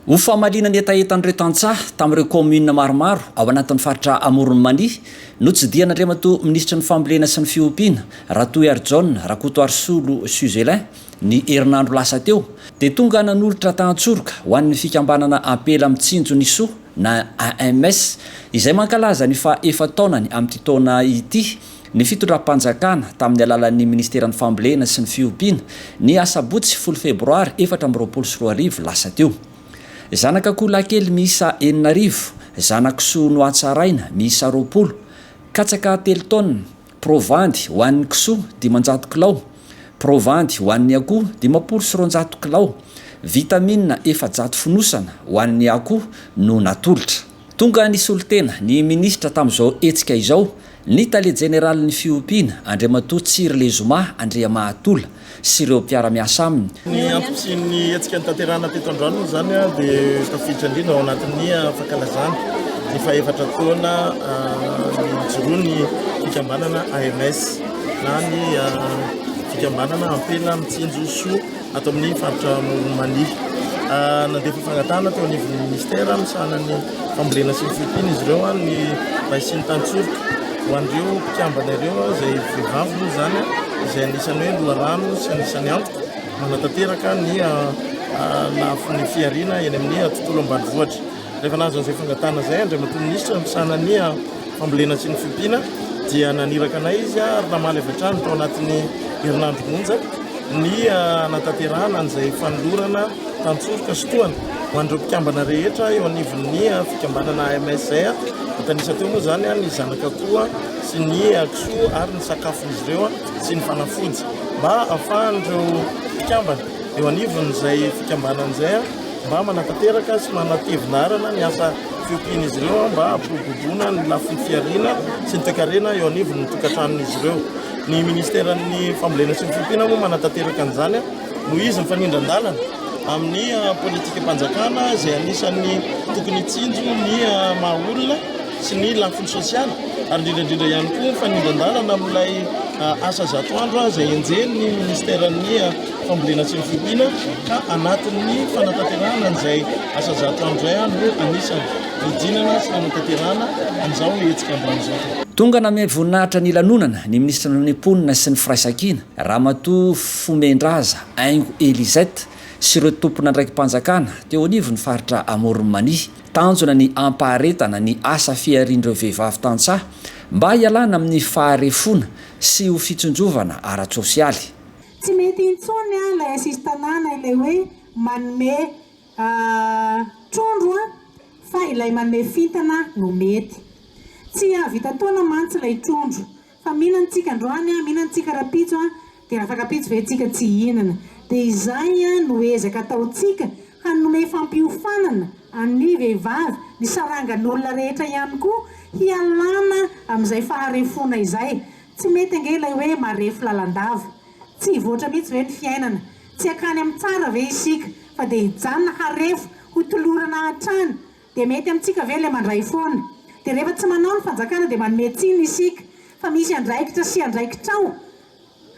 Ho famaliana ny hetahetan'ireo tantsaha tamin'ireo kaominina maromaro ao anatin'ny faritra Amoron'i Mania, notsidihan'Andriamatoa Minisitry ny Fambolena sy ny Fiompiana, Ratohiharijaona Rakotoarisolo Suzelin, ny herinandro lasa teo, dia tonga nanolotra tahan-tsoroka ho an'ny fikambanana Ampela Mitsinjo ny Soa, na AMS, izay mankalaza ny faha efa-taonany amin'ity taona ity, ny fitondram-panjakana, tamin'ny alalan'ny Ministeran'ny Fambolena sy ny Fiompiana, ny asabotsy folo febroary efatra amby roapolo sy roa arivo lasa teo. Zanak'akoho lahikely miisa enina arivo, zanak'isoa nohatsaraina, miisa roapolo, katsaka telo taonina, Provandy ho an'ny kisoa, dimanjato kilao. Provandy ho an'ny akoho, dimampolo sy roanjato kilao. Vitamina efajato fonosana ho an'ny akoho no natolotra. Tonga nisolo-tena ny minisitra tamin'izao hetsika izao ny tale jeneralin'ny fiompiana, Andriamatoa Tsiry Lezoma Andriamahatola, sy ireo mpiara-miasa aminy. Ny ankoatrin'ny hetsika notanterahina teto androany moa izany dia tafiditra indrindra ao anatin'ny fankalazana ny fahefatra taona nijoroan'ny fikambanana AMS na ny fikambanana ampela mitsinjo soa ato amin'ny faritra Amoron'i Mania. Nandefa fangatahana teo anivon'ny ministera misahana ny Fambolena sy ny fiompiana izy ireo an, ny bay sy ny tantsoroka. Ho an'ireo mpikambana ireo izay vehivavy moa izany izay anisan'ny hoe loharano sy anisan'ny antoko manatanteraka ny lafiny fihariana eny amin'ny tontolo ambanivohitra. Rehefa nahazo an'izay fangatahana izay Andriamatoa Minisitra misahana ny. fambolena sy ny fiompiana dia naniraka anay izy ary namaly avy hatrany tao anatin'ny herinandro monja ny hanatanterahana an'izay fanolorana tantsoroka sy tohana ho an'ireo mpikambana rehetra eo anivon'ny fikambanana MSR tanisa teo moa izany ny zanaka koa sy ny kisoa ary ny sakafon'izy ireo sy ny fanafody mba ahafahan'ireo mpikambana eo anivon'izay fikambanana izay mba manatanteraka sy manatevina arana ny asa Fiompin'izy ireo mba hampiroboroboana ny lafiny fihariana sy ny toekarena eo anivon'ny tokantranon'izy ireo. Ny Ministeran'ny Fambolena sy ny Fiompiana moa manatanteraka an'izany noho izy mifanindran-dalana amin'ny ah, politikam-panjakana izay anisan'ny tokony hitsinjo ny ah, maha olona sy ny lafiny sosialy ary indrindraindrindra ihany koa mifanindran-dalana amin'ilay ah, asa zato andro izay enjehin'ny Ministeran'ny fambolena sy ny fiompiana ka anatin'ny fanatanterahana an'izay asa zato andro izay ah, no anisan'ny fidinana sy fanatanterahana an'izao hetsika ambony izao. Tonga nanome voninahitra ny lanonana ny minisitry ny Mponina sy ny Firaisankina, Ramatoa Fomendraza Aingo Elisette sy ireo tompon'andraiki-panjakana teo anivon'ny faritra Amoron'i Mania. Tanjona ny hampaharetana ny asa fiharian'ireo vehivavy tantsaha mba hialana amin'ny faharefoana sy ho fitsinjovana ara-tsosialy. Tsy mety intsony an ilay sisin-tanàna ilay hoe manome trondro an, fa ilay manome fintana no mety. Tsy hahavita taona mantsy ilay trondro. Fa mihina antsika androany an, mihina antsika rapitso an, dia afaka pitsy ve tsika tsy hihinana. Dia izay an no ezaka ataontsika hanome fampiofanana an'ny vehivavy, ny sarangan'olona rehetra ihany koa hialana amin'izay faharefoana izay. Tsy mety ange ilay hoe marefo lalandava. Tsy hivoatra mihitsy ve ny fiainana? Tsy hankany amin'ny tsara ve isika fa dia hijanona harefo ho tolorana hatrany? Dia mety amintsika ve ilay mandray foana? Dia rehefa tsy manao ny fanjakana dia manome tsiny isika fa misy andraikitra sy andraikitrao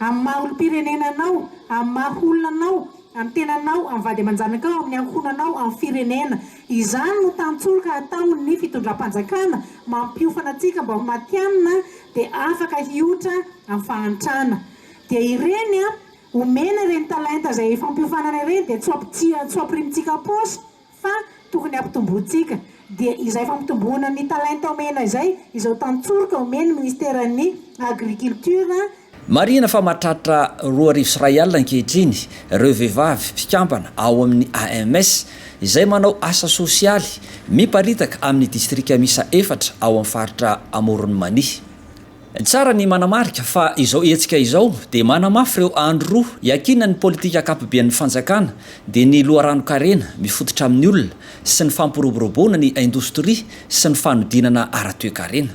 amin'ny maha olom-pirenena anao, amin'ny maha olona anao, amin'ny tenanao, amin'ny vady aman-janakao, amin'ny ankohonanao, amin'ny firenena. Izany no tantsoroka ataon ny fitondram-panjakana mampiofana antsika mba ho matianina dia afaka hiotra amin'ny fahantrana. Dia ireny omena ireny talenta izay ifampiofanana ireny dia tsy tsy ho ampirimitsika am-paosy fa tokony hampitombointsika. Dia izay fampitomboana ny talenta omena izay izao tantsoroka omen'ny Ministeran'ny Agriculture Marihina fa mahatratra roa arivo sy iray alina ankehitriny ireo vehivavy mpikambana ao amin'ny AMS izay manao asa sosialy miparitaka amin'ny distrika miisa efatra ao amin'ny faritra Amoron'i Mania. Tsara ny manamarika fa izao hetsika izao dia manamafy ireo andro roa iankinan'ny politika ankapoben'ny fanjakana dia ny loharanon-karena mifototra amin'ny olona sy ny fampiroboroboana ny indostria sy ny fanodinana ara-toekarena.